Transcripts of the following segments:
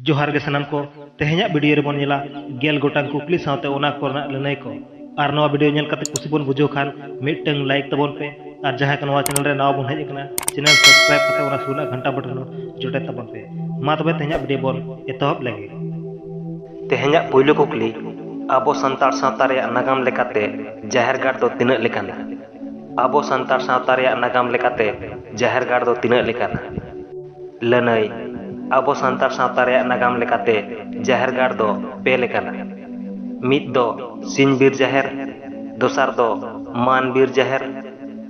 ᱡᱚᱦᱟᱨ ᱜᱮ ᱥᱟᱱᱟᱢ ᱠᱚ, ᱛᱮᱦᱮᱧᱟᱜ ᱵᱤᱰᱤᱭᱳ ᱨᱮ ᱵᱚᱱ ᱧᱮᱞᱟ ᱜᱮᱞ ᱜᱚᱴᱟᱝ ᱠᱩᱠᱞᱤ ᱥᱟᱶᱛᱮ ᱚᱱᱟ ᱠᱚ ᱨᱮᱱᱟᱜ ᱞᱟᱹᱱᱟᱹᱭ ᱠᱚ᱾ ᱟᱨ ᱱᱚᱣᱟ ᱵᱤᱰᱤᱭᱳ ᱧᱮᱞ ᱠᱟᱛᱮ ᱠᱩᱥᱤ ᱵᱚᱱ ᱵᱩᱡᱷᱟᱹᱣ ᱠᱷᱟᱱ ᱢᱤᱫᱴᱟᱹᱝ ᱞᱟᱭᱤᱠ ᱛᱟᱵᱚᱱ ᱯᱮ ᱟᱨ ᱡᱟᱦᱟᱸᱭ ᱠᱚ ᱱᱚᱣᱟ ᱪᱮᱱᱮᱞ ᱨᱮ ᱱᱟᱣᱟ ᱵᱚᱱ ᱦᱮᱡ ᱟᱠᱟᱱᱟ ᱪᱮᱱᱮᱞ ᱥᱟᱵᱥᱠᱨᱟᱭᱤᱵ ᱠᱟᱛᱮ ᱚᱱᱟ ᱥᱩᱨ ᱨᱮᱱᱟᱜ ᱜᱷᱟᱱᱴᱟ ᱵᱚᱴᱚᱱ ᱦᱚᱸ ᱡᱚᱴᱮᱫ ᱛᱟᱵᱚᱱ ᱯᱮ᱾ ᱢᱟ ᱛᱚᱵᱮ ᱛᱮᱦᱮᱧᱟᱜ ᱵᱤᱰᱤᱭᱳ ᱵᱚᱱ ᱮᱛᱚᱦᱚᱵ ᱞᱮᱜᱮ᱾ ᱛᱮᱦᱮᱧᱟᱜ ᱯᱩᱭᱞᱩ ᱠᱩᱠᱞᱤ, ᱟᱵᱚ ᱥᱟᱱᱛᱟᱲ ᱥᱟᱶᱛᱟ ᱨᱮᱭᱟᱜ ᱱᱟᱜᱟᱢ ᱞᱮᱠᱟᱛᱮ ᱡᱟᱦᱮᱨ ᱜᱟᱲ ᱫᱚ ᱛᱤᱱᱟᱹᱜ ᱞᱮᱠᱟᱱᱟ? ᱟᱵᱚ ᱥᱟᱱᱛᱟᱲ ᱥᱟᱶᱛᱟ ᱨᱮᱭᱟᱜ ᱱᱟᱜᱟᱢ ᱞᱮᱠᱟᱛᱮ ᱡᱟᱦᱮᱨ ᱜᱟᱲ ᱫᱚ ᱛᱤᱱᱟᱹᱜ ᱞᱮᱠᱟᱱᱟ? ᱞᱟᱹᱱᱟᱹᱭ, ᱟᱵᱚ ᱥᱟᱱᱛᱟᱲ ᱥᱟᱶᱛᱟ ᱨᱮᱭᱟᱜ ᱱᱟᱜᱟᱢ ᱞᱮᱠᱟᱛᱮ ᱡᱟᱦᱮᱨ ᱜᱟᱲ ᱫᱚ ᱯᱮ ᱞᱮᱠᱟᱱᱟ᱾ ᱢᱤᱫ ᱫᱚ ᱥᱤᱧ ᱵᱤᱨ ᱡᱟᱦᱮᱨ, ᱫᱚᱥᱟᱨ ᱫᱚ ᱢᱟᱱ ᱵᱤᱨ ᱡᱟᱦᱮᱨ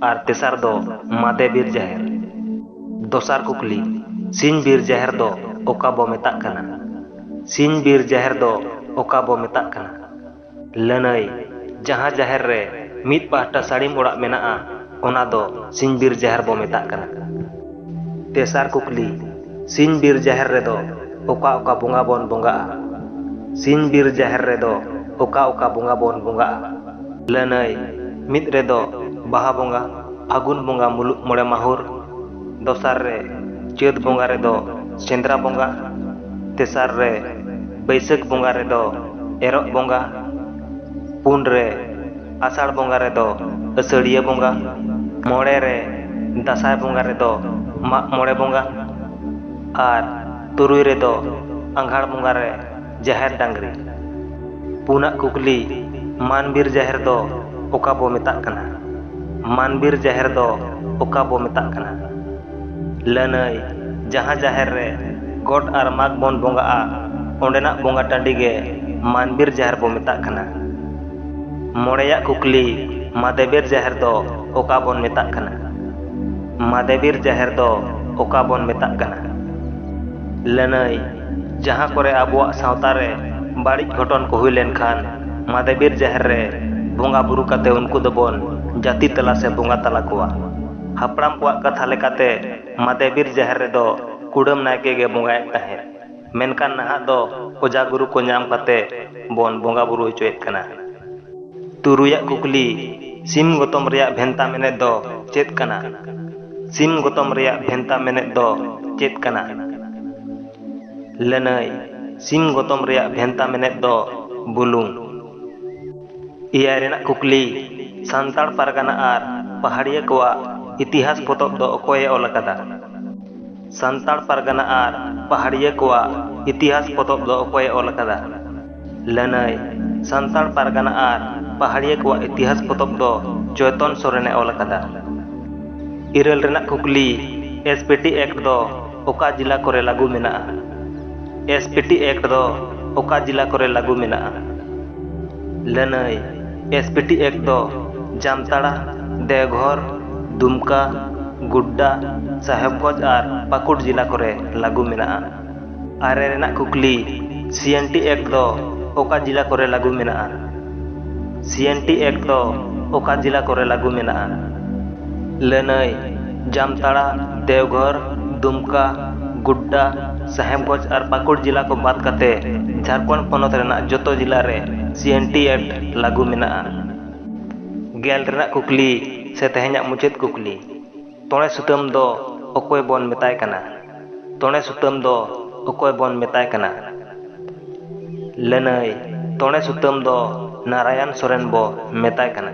ᱟᱨ ᱛᱮᱥᱟᱨ ᱫᱚ ᱢᱟᱫᱮ ᱵᱤᱨ ᱡᱟᱦᱮᱨ᱾ ᱫᱚᱥᱟᱨ ᱠᱩᱠᱞᱤ, ᱥᱤᱧ ᱵᱤᱨ ᱡᱟᱦᱮᱨ ᱫᱚ ᱚᱠᱟ ᱵᱚ ᱢᱮᱛᱟᱜ ᱠᱟᱱᱟ? ᱥᱤᱧ ᱵᱤᱨ ᱡᱟᱦᱮᱨ ᱫᱚ ᱚᱠᱟ ᱵᱚ ᱢᱮᱛᱟᱜ ᱠᱟᱱᱟ? ᱞᱟᱹᱱᱟᱹᱭ, ᱡᱟᱦᱟᱸ ᱡᱟᱦᱮᱨ ᱨᱮ ᱢᱤᱫ ᱯᱟᱦᱴᱟ ᱥᱟᱹᱲᱤᱢ ᱚᱲᱟᱜ ᱢᱮᱱᱟᱜᱼᱟ ᱚᱱᱟ ᱫᱚ ᱥᱤᱧ ᱵᱤᱨ ᱡᱟᱦᱮᱨ ᱵᱚ ᱢᱮᱛᱟᱜ ᱠᱟᱱᱟ᱾ ᱛᱮᱥᱟᱨ ᱠᱩᱠᱞᱤ, ᱥᱤᱧ ᱵᱤᱨ ᱡᱟᱦᱮᱨ ᱨᱮᱫᱚ ᱚᱠᱟ ᱚᱠᱟ ᱵᱚᱸᱜᱟ ᱵᱚᱱ ᱵᱚᱸᱜᱟᱜᱼᱟ? ᱥᱤᱧ ᱵᱤᱨ ᱡᱟᱦᱮᱨ ᱨᱮᱫᱚ ᱚᱠᱟ ᱚᱠᱟ ᱵᱚᱸᱜᱟ ᱵᱚᱱ ᱵᱚᱸᱜᱟᱜᱼᱟ? ᱞᱟᱹᱱᱟᱹᱭ, ᱢᱤᱫ ᱨᱮᱫᱚ ᱵᱟᱦᱟ ᱵᱚᱸᱜᱟ, ᱯᱷᱟᱹᱜᱩᱱ ᱵᱚᱸᱜᱟ ᱢᱩᱞᱩᱜ ᱢᱚᱬᱮ ᱢᱟᱦᱩᱨ᱾ ᱫᱚᱥᱟᱨ ᱨᱮ ᱪᱟᱹᱛ ᱵᱚᱸᱜᱟ ᱨᱮᱫᱚ ᱥᱮᱸᱫᱽᱨᱟ ᱵᱚᱸᱜᱟ, ᱛᱮᱥᱟᱨ ᱨᱮ ᱵᱟᱹᱭᱥᱟᱹᱠᱷ ᱵᱚᱸᱜᱟ ᱨᱮᱫᱚ ᱮᱨᱚᱜ ᱵᱚᱸᱜᱟ, ᱯᱩᱱ ᱨᱮ ᱟᱥᱟᱲ ᱵᱚᱸᱜᱟ ᱨᱮᱫᱚ ᱟᱹᱥᱟᱹᱲᱤᱭᱟᱹ ᱵᱚᱸᱜᱟ, ᱢᱚᱬᱮ ᱨᱮ ᱫᱟᱸᱥᱟᱭ ᱵᱚᱸᱜᱟ ᱨᱮᱫᱚ ᱢᱟᱜ ᱢᱚᱬᱮ ᱵᱚᱸᱜᱟ ᱟᱨ ᱛᱩᱨᱩᱭ ᱨᱮᱫᱚ ᱟᱸᱜᱷᱟᱬ ᱵᱚᱸᱜᱟ ᱨᱮ ᱡᱟᱦᱮᱨ ᱰᱟᱝᱨᱤ ᱯᱩᱱᱟᱜ ᱠᱩᱠᱞᱤ ᱢᱟᱱᱵᱤᱨ ᱡᱟᱦᱮᱨ ᱫᱚ ᱚᱠᱟ ᱵᱚ ᱢᱮᱛᱟᱜ ᱠᱟᱱᱟ ᱢᱟᱱᱵᱤᱨ ᱡᱟᱦᱮᱨ ᱫᱚ ᱚᱠᱟ ᱵᱚ ᱢᱮᱛᱟᱜ ᱠᱟᱱᱟ ᱞᱟᱹᱱᱟᱹᱭ ᱡᱟᱦᱟᱸ ᱡᱟᱦᱮᱨ ᱨᱮ ᱜᱚᱴ ᱟᱨ ᱢᱟᱜᱽ ᱵᱚᱱ ᱵᱚᱸᱜᱟᱜᱼᱟ ᱚᱸᱰᱮᱱᱟᱜ ᱵᱚᱸᱜᱟ ᱴᱟᱺᱰᱤ ᱜᱮ ᱢᱟᱱᱵᱤᱨ ᱡᱟᱦᱮᱨ ᱵᱚ ᱢᱮᱛᱟᱜ ᱠᱟᱱᱟ ᱢᱚᱬᱮᱭᱟᱜ ᱠᱩᱠᱞᱤ ᱢᱟᱫᱮᱵᱤᱨ ᱡᱟᱦᱮᱨ ᱫᱚ ᱚᱠᱟ ᱵᱚᱱ ᱢᱮᱛᱟᱜ ᱠᱟᱱᱟ ᱢᱟᱫᱮᱵᱤᱨ ᱡᱟᱦᱮᱨ ᱫᱚ ᱚᱠᱟ ᱵᱚᱱ ᱢᱮᱛᱟᱜ ᱠᱟᱱᱟ ᱞᱟᱹᱱᱟᱹᱭ ᱡᱟᱦᱟᱸ ᱠᱚᱨᱮ ᱟᱵᱚᱣᱟᱜ ᱥᱟᱶᱛᱟ ᱨᱮ ᱵᱟᱹᱲᱤᱡ ᱜᱷᱚᱴᱚᱱ ᱠᱚ ᱦᱩᱭ ᱞᱮᱱ ᱠᱷᱟᱱ ᱢᱟᱫᱮ ᱵᱤᱨ ᱡᱟᱦᱮᱨ ᱨᱮ ᱵᱚᱸᱜᱟ ᱵᱩᱨᱩ ᱠᱟᱛᱮ ᱩᱱᱠᱩ ᱫᱚ ᱵᱚᱱ ᱡᱟᱹᱛᱤ ᱛᱟᱞᱟ ᱥᱮ ᱵᱚᱸᱜᱟ ᱛᱟᱞᱟ ᱠᱚᱣᱟ᱾ ᱦᱟᱯᱲᱟᱢ ᱠᱚᱣᱟᱜ ᱠᱟᱛᱷᱟ ᱞᱮᱠᱟᱛᱮ ᱢᱟᱫᱮ ᱵᱤᱨ ᱡᱟᱦᱮᱨ ᱨᱮᱫᱚ ᱠᱩᱰᱟᱹᱢ ᱱᱟᱭᱠᱮ ᱜᱮ ᱵᱚᱸᱜᱟᱭᱮᱫ ᱛᱟᱦᱮᱸᱫ᱾ ᱢᱮᱱᱠᱷᱟᱱ ᱱᱟᱦᱟᱜ ᱫᱚ ᱚᱡᱷᱟ ᱜᱩᱨᱩ ᱠᱚ ᱧᱟᱢ ᱠᱟᱛᱮ ᱵᱚᱱ ᱵᱚᱸᱜᱟ ᱵᱩᱨᱩ ᱦᱚᱪᱚᱭᱮᱫ ᱠᱟᱱᱟ᱾ ᱛᱩᱨᱩᱭ ᱟᱜ ᱠᱩᱠᱞᱤ, ᱥᱤᱢ ᱜᱚᱛᱚᱢ ᱨᱮᱭᱟᱜ ᱵᱷᱮᱱᱛᱟ ᱢᱮᱱᱮᱛ ᱫᱚ ᱪᱮᱫ ᱠᱟᱱᱟ? ᱥᱤᱢ ᱜᱚᱛᱚᱢ ᱨᱮᱭᱟᱜ ᱵᱷᱮᱱᱛᱟ ᱢᱮᱱᱮᱛ ᱫᱚ ᱪᱮᱫ ᱠᱟᱱᱟ? ᱞᱟᱹᱱᱟᱹᱭ, ᱥᱤᱢ ᱜᱚᱛᱚᱢ ᱨᱮᱭᱟᱜ ᱵᱷᱮᱱᱛᱟ ᱢᱮᱱᱮᱛ ᱫᱚ ᱵᱩᱞᱩᱝ᱾ ᱮᱭᱟᱭ ᱨᱮᱱᱟᱜ ᱠᱩᱠᱞᱤ, ᱥᱟᱱᱛᱟᱲ ᱯᱟᱨᱜᱟᱱᱟ ᱟᱨ ᱯᱟᱦᱟᱲᱤᱭᱟᱹ ᱠᱚᱣᱟᱜ ᱤᱛᱤᱦᱟᱥ ᱯᱚᱛᱚᱵ ᱫᱚ ᱚᱠᱚᱭ ᱮ ᱚᱞ ᱟᱠᱟᱫᱟ? ᱥᱟᱱᱛᱟᱲ ᱯᱟᱨᱜᱟᱱᱟ ᱟᱨ ᱯᱟᱦᱟᱲᱤᱭᱟᱹ ᱠᱚᱣᱟᱜ ᱤᱛᱤᱦᱟᱥ ᱯᱚᱛᱚᱵ ᱫᱚ ᱚᱠᱚᱭ ᱮ ᱚᱞ ᱟᱠᱟᱫᱟ? ᱞᱟᱹᱱᱟᱹᱭ, ᱥᱟᱱᱛᱟᱲ ᱯᱟᱨᱜᱟᱱᱟ ᱟᱨ ᱯᱟᱦᱟᱲᱤᱭᱟᱹ ᱠᱚᱣᱟᱜ ᱤᱛᱤᱦᱟᱥ ᱯᱚᱛᱚᱵ ᱫᱚ ᱪᱚᱭᱛᱚᱱ ᱥᱚᱨᱮᱱ ᱮ ᱚᱞ ᱟᱠᱟᱫᱟ᱾ ᱤᱨᱟᱹᱞ ᱨᱮᱱᱟᱜ ᱠᱩᱠᱞᱤ, ᱮᱥᱯᱤᱴᱤ ᱮᱠᱴ ᱫᱚ ᱚᱠᱟ ᱡᱤᱞᱟ ᱠᱚᱨᱮ ᱞᱟᱹᱜᱩ ᱢᱮᱱᱟᱜᱼᱟ? ᱮᱥᱯᱤᱴᱤ ᱮᱠᱴ ᱫᱚ ᱚᱠᱟ ᱡᱤᱞᱟ ᱠᱚᱨᱮ ᱞᱟᱹᱜᱩ ᱢᱮᱱᱟᱜᱼᱟ? ᱞᱟᱹᱱᱟᱹᱭ ᱮᱥ ᱯᱤ ᱴᱤ ᱮᱠ ᱫᱚ ᱡᱟᱢᱛᱟᱲᱟ, ᱫᱮᱣᱜᱷᱚᱨ, ᱫᱩᱢᱠᱟ, ᱜᱩᱰᱰᱟ, ᱥᱟᱦᱮᱵᱽᱜᱚᱸᱡᱽ ᱟᱨ ᱯᱟᱠᱩᱲ ᱡᱤᱞᱟ ᱠᱚᱨᱮ ᱞᱟᱜᱩ ᱢᱮᱱᱟᱜᱼᱟ᱾ ᱟᱨᱮ ᱨᱮᱱᱟᱜ ᱠᱩᱠᱞᱤ, ᱥᱤ ᱮᱱ ᱴᱤ ᱮᱠᱴ ᱫᱚ ᱚᱠᱟ ᱡᱤᱞᱟ ᱠᱚᱨᱮ ᱞᱟᱜᱩ ᱢᱮᱱᱟᱜᱼᱟ? ᱥᱤ ᱮᱱ ᱴᱤ ᱮᱠᱴ ᱫᱚ ᱚᱠᱟ ᱡᱤᱞᱟ ᱠᱚᱨᱮ ᱞᱟᱜᱩ ᱢᱮᱱᱟᱜᱼᱟ? ᱞᱟᱹᱱᱟᱹᱭ᱾ ᱡᱟᱢᱛᱟᱲᱟ, ᱫᱮᱣᱜᱷᱚᱨ, ᱫᱩᱢᱠᱟ, ᱜᱳᱰᱰᱟ, ᱥᱟᱦᱮᱵᱽᱜᱚᱸᱡᱽ ᱟᱨ ᱯᱟᱠᱩᱲ ᱡᱤᱞᱟ ᱠᱚ ᱵᱟᱫᱽ ᱠᱟᱛᱮ ᱡᱷᱟᱨᱠᱷᱚᱸᱰ ᱯᱚᱱᱚᱛ ᱨᱮᱱᱟᱜ ᱡᱚᱛᱚ ᱡᱤᱞᱟ ᱨᱮ ᱥᱤᱮᱱᱴᱤ ᱮᱠᱴ ᱞᱟᱹᱜᱩ ᱢᱮᱱᱟᱜᱼᱟ᱾ ᱜᱮᱞ ᱨᱮᱱᱟᱜ ᱠᱩᱠᱞᱤ ᱥᱮ ᱛᱮᱦᱮᱧᱟᱜ ᱢᱩᱪᱟᱹᱫ ᱠᱩᱠᱞᱤ, ᱛᱚᱬᱮ ᱥᱩᱛᱟᱹᱢ ᱫᱚ ᱚᱠᱚᱭ ᱵᱚᱱ ᱢᱮᱛᱟᱭ ᱠᱟᱱᱟ? ᱛᱚᱬᱮ ᱥᱩᱛᱟᱹᱢ ᱫᱚ ᱚᱠᱚᱭ ᱵᱚᱱ ᱢᱮᱛᱟᱭ ᱠᱟᱱᱟ? ᱞᱟᱹᱱᱟᱹᱭ, ᱛᱚᱬᱮ ᱥᱩᱛᱟᱹᱢ ᱫᱚ ᱱᱟᱨᱟᱭᱚᱱ ᱥᱚᱨᱮᱱ ᱵᱚ ᱢᱮᱛᱟᱭ ᱠᱟᱱᱟ᱾